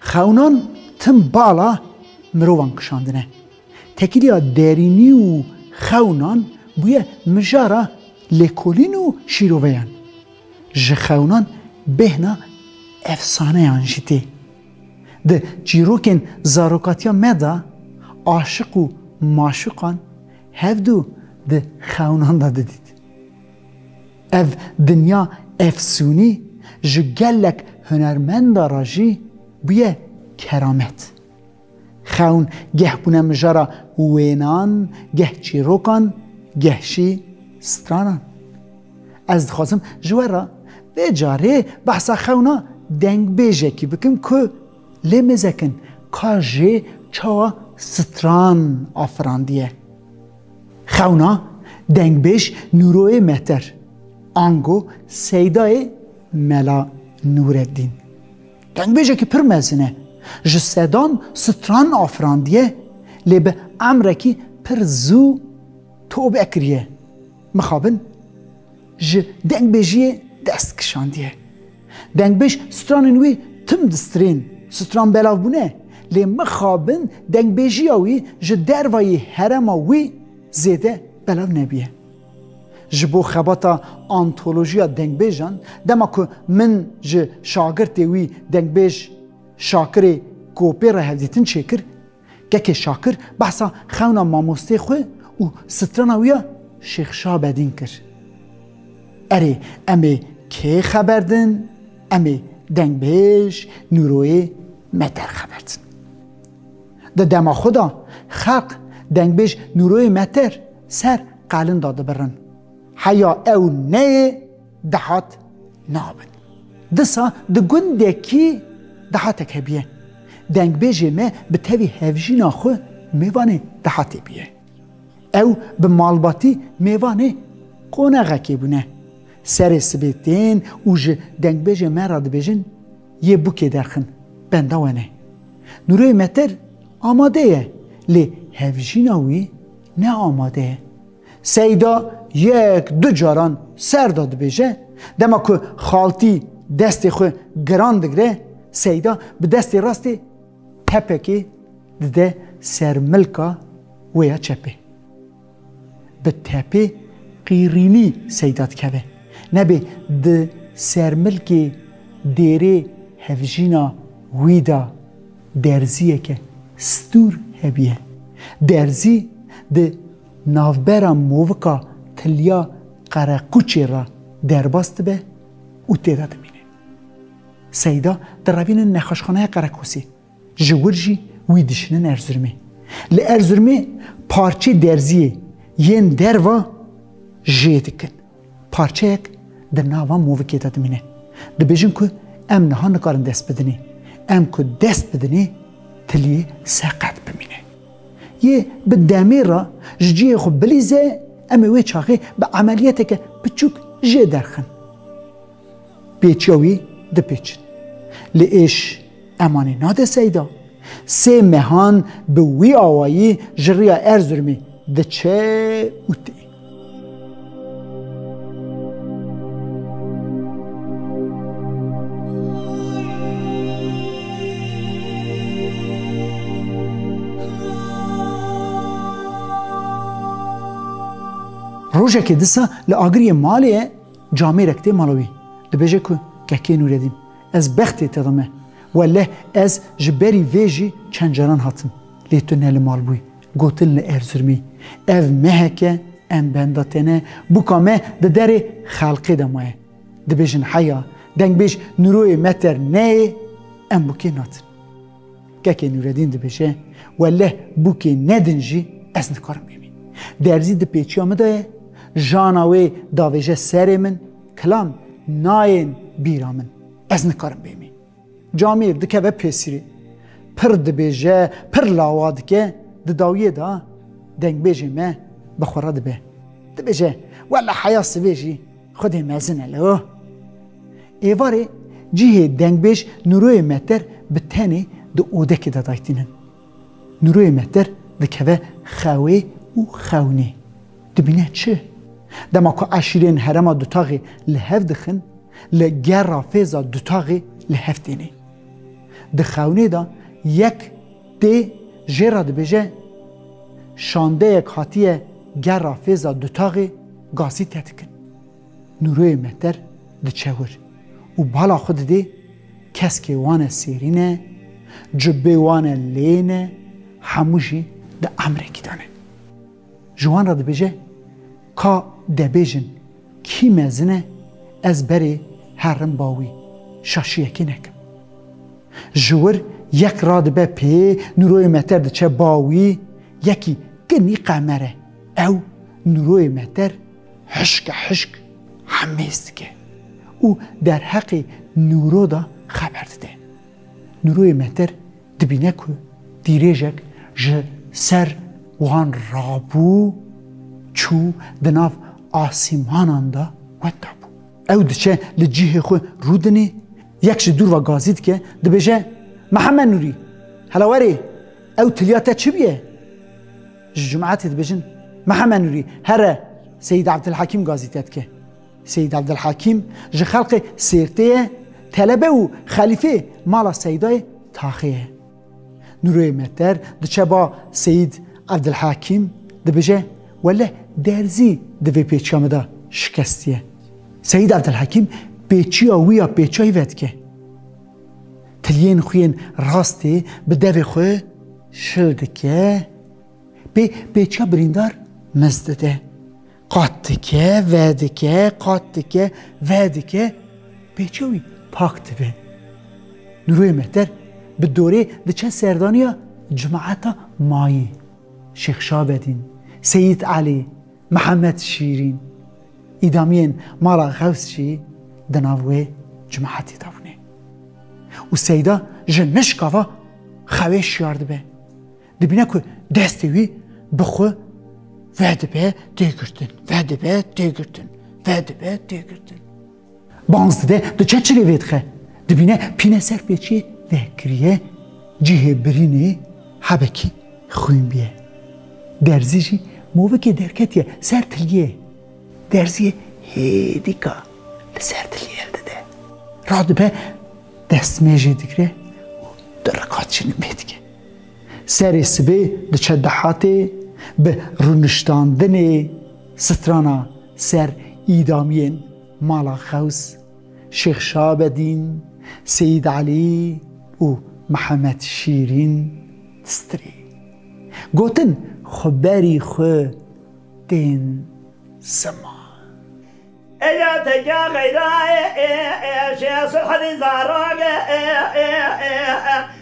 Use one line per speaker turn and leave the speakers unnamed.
Xewnan
tim bala mirovan kişandine. Tekîliya derînî û xewnan bûye mijara lêkolîn û şîroveyan. Ji xewnan bêhna efsaneyan jî tê. Di çîrokên zarokatiya me de aşiq û maşuqan hevdu di xewnan de didît. Ev dinya efsûnî ji gelek hunermenda re jî bûye keramet. Xewn geh bûne mijara wênan, geh çîrokan, geh jî stranan. Ez dixwazim ji we re vê carê behsa xewna dengbêjekî bikim ku Lê mêzekin ka jê çawa stran afirandiye. Xewna dengbêj Nûroyê Mehter, ango seydayê Mela Nûreddîn. Dengbêjekî pir mezin e. Ji sedan stran afirandiye lê bi emrekî pir zû tobe kiriye. Mixabin ji dengbêjiyê dest kişandiye. Dengbêj stranên wî tim distrên, stran belav bûne, lê mixabin dengbêjiya wî ji dervayî herema wî zêde belav nebûye. Ji bo xebata antolojiya dengbêjan, dema ku min ji şagirtê wî dengbêj Şakirê Kopê re hevdîtin çêkir, Keke Şakir behsa xewna mamosteyê xwe û strana wî ya Şêx Şabedîn kir. Erê em ê kê xeber din? Em ê Dengbêj Nûroyê me der xeber din. Di dema xwe de xelq Dengbêj Nûroyê me ter ser qelin de dibirin. Heya ew neyê Dehat nabin. Disa di gundekî dehatek hebiye. Dengbêjê me bi tevî hevjîna xwe mêvanê dehatê biye. Ew bi malbatî mêvanê qonaxekê bûne. Serê sibê tên û ji dengbêjê me re dibêjin yê bûkê derxin, benda we ne. Nûrê Metir amade ye lê hevjîna wî ne amade ye. Seyda yek du caran serda dibêje, dema ku xaltî destê xwe giran digire, Seyda bi destê rastê tepekê dide ser milka wê ya çepê. Bi tepê qîrînî Seyda dikeve. Nebê di ser milkê dêrê hevjîna wî de derziyeke stûr hebûye. Derzî di Navbera movika Tilya Qereqûçê re derbas dibe û tê de dimîne. Seyda direvînin nexweşxaneya Qereqûsê, ji wir jî wî dişînin Erzirmê. Li Erzirmê parçê derziyê yên derva jê dikin. Parçeyek di nav van movikê de dimîne. Dibêjin ku em niha nikarin dest bidinê. Em ku dest bidinê tiliyê seqet bimîne. Yê bi demê re ji cihê xwe bilîze em ê wê çaxê bi emeliyeteke piçûk jê derxin. Pêçiya wî dipêçin. Lê êş emanê nade Seyda. Sê mehan bi wî awayî ji riya Erzurumê diçe û tê. Rojekê disa li agiriyê malê ye. Camêrek tê mala wî, dibêje ku Kekê Nûredîn, ez bextê te de me. Welleh ez ji berî vê jî çend caran hatim, lê tu ne li mal bûyî. Gotin li Erzirmê, Ev mehek e, em benda te ne, bûka me di derê xelkê de maye. Dibêjin heya, dengbêj Nûroyê me ter neyê, em bûkê natin. Kekê Nûredîn dibêje, Welleh bûkê ne din jî ez nikarim bimînim. Derzî di pêçiya min de ye, jana wê davêje serê min, kilam nayên bîra min, ez nikarim bimînim. Camîr dikeve pêsirê. Pir dibêje, pir lawa dike, di dawiyê de dengbêjê me bi xwe re dibe. Dibêje, Welleh heya sivê jî xwedê mezin e leo. Êvarê cihê dengbêj Nûroyê Mehter bi tenê di odekê de daytînin. Nûroyê Mehter dikeve xewê û xewnê. Dibîne çi? Dema ku eşîrên herema dutaxê li hev dixin, li gerra fêza dutaxê li hev têne. Di xewnê de yek tê jê re dibêje, Şandeyek hatiye gerra fêza dutaxê gasî te dikin. Nûroyê Mehter diçe wir û bala xwe didê, keskê wan e sêrîn e, cubbê wan e lên e, hemû jî di emrekî de ne. Ji wan re dibêje, Ka debêjin kî mezin e, ez berê herim ba wî şaşiyekê nekim. Ji wir yek radibe pê, Nûroyê Mehter diçe ba wî, yekî, Kinî qemer e. Ew, Nûroyê Mehter, Hişka hişk hemêz dike û derheqê nûro de xeber dide. Nûroyê meter dibîne ku dîrêjek ji ser wan rabû çû di nav asîmanan de wet dabû. Ew diçe li cihê xwe rû dinê, yek ji dûr ve gazî dike, dibêje, Mihemed Nûrî! Hela werê! Ew tiliya te çi bûye? Ji cumatê dibêjin Mihemed Nûrî here Seyîd Evdilhakîm gazî te dike. Seyîd Evdilhakîm ji xelkê Sêrtê ye, telebe û xelîfê mala Seydayê Taxê ye. Nûroyê Meter diçe ba Seyîd Evdilhakîm dibêje Welleh derzî di vê pêçiya me de şikestiye. Seyîd Evdilhakîm pêçiya wî ya pêçiyayî vedike. Tiliyên xwe yên rastê bi devê xwe şil dike, pê pêça birîndar miz dide. Qat dike, vedike, qat dike, vedike, pêça wî pak dibe. Nuruyê Mehter bi dorê diçe serdaniya cemaeta mayî. Şêx Şabedîn, Seyîd Elî, Mihemed Şîrîn, îdamiyên mala Xews jî di nav wê cemaetê de bûne û Seyda ji nişkava xewê şiyar dibe, dibîne ku destê wî bi xwe vedibe têgirtin, vedibe têgirtin, vedibe têgirtin. Bans dide, diçe çilê vêdixe. Dibîne pîne ser pêçiyê vekiriye, cihê birînê hebekî xwîn bûye. Derzî jî movikê derketiye ser tiliyê. Derziyê hêdîka li ser tiliyê dide. Radibe destmêjê digire û diriqa çinimê dike. Serê sibê diçe dehatê bi rûniştandinê strana Ser îdamiyên Mala Xews, Şêx Şabedîn, Seyîd Elî û Mihemed Şîrîn Strî gotin xwe berî xwe tên sima.
Eger teke xeyra e, jê sulh dî zarok e.